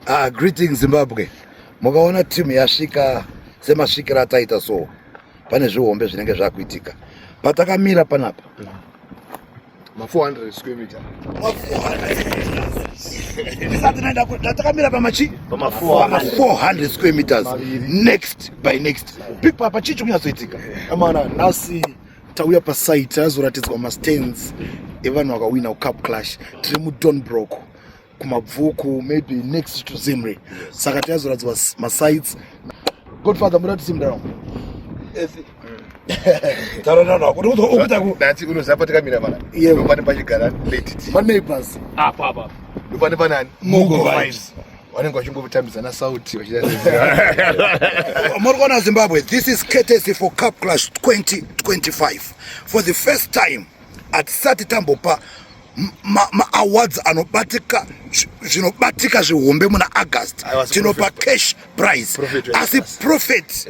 Ah, greeting Zimbabwe. Mukaona timu yasvika semasvikira ataita so pane zvihombe zvinenge zvakuitika. Patakamira panapa. Ma 400 square meter. Ma 400. Tatakamira pamachi? Pama 400 square meters. Next by next. Pipa apa chichi kunyatsoitika. Amana nasi tauya pasite azoratidzwa mastands evanhu vakawina kucup clash tiri mudonbrock kumabvuku maybe next to zimri saka tiazoratidzwa masites godfather muratidzi mdaro taronakuunozapatikamiramanaepanepachigara maneighbors apapa ndopane panani mugo vibes vanenge vachingotambidzana sauti muri kuona zimbabwe this is courtesy for cup clash 2025 for the first time hatisati tambopa maawards anobatika zvinobatika zvihombe muna august tinopa cash price asi prophet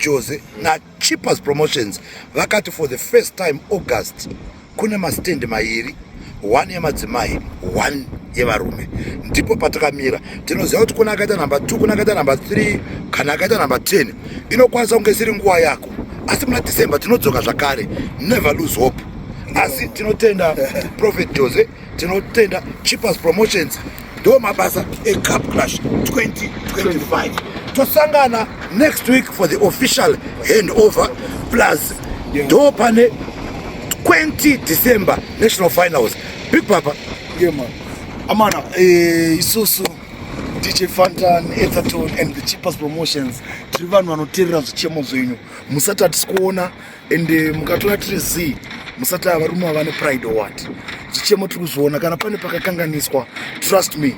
jose na Cheapers Promotions vakati for the first time August kune mastendi mairi one yemadzimai one yevarume ndipo patakamira tinoziva kuti kuna akaita number two kuna akaita number three kana akaita number ten inokwanisa kunge isiri nguva yako asi muna december tinodzoka zvakare never lose hope asi tinotenda prophet jose tinotenda cheapers promotions ndo mabasa ecap clash 2025 tosangana next week for the official hand over plus ndo pane 20 december national finals big papa yeah, man. amana eh, isusu dj fantan etherton and the cheapest promotions tiri vanhu vanoteerera zvichemo zvenyu musati hatisi kuona and eh, mukatora tiri zii musati ava rume ava nepride or what chichemo tiri kuzviona kana pane pakakanganiswa trust me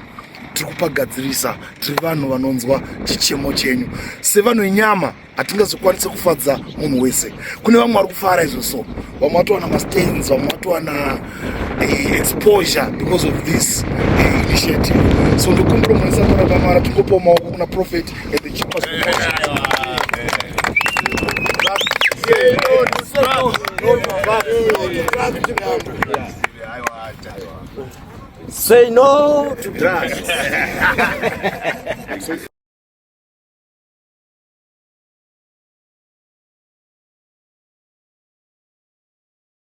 tiri kupagadzirisa tiri vanhu vanonzwa chichemo chenyu sevanhu inyama hatingazokwanise kufadza munhu wese kune vamwe vari kufara izvo so vamwe vatowana mastains vamwe vatowana eh, exposure because of this eh, initiative so ndokumbira mwari samora vamara tingopawo maoko kuna prophet and the chipas Say no to drugs.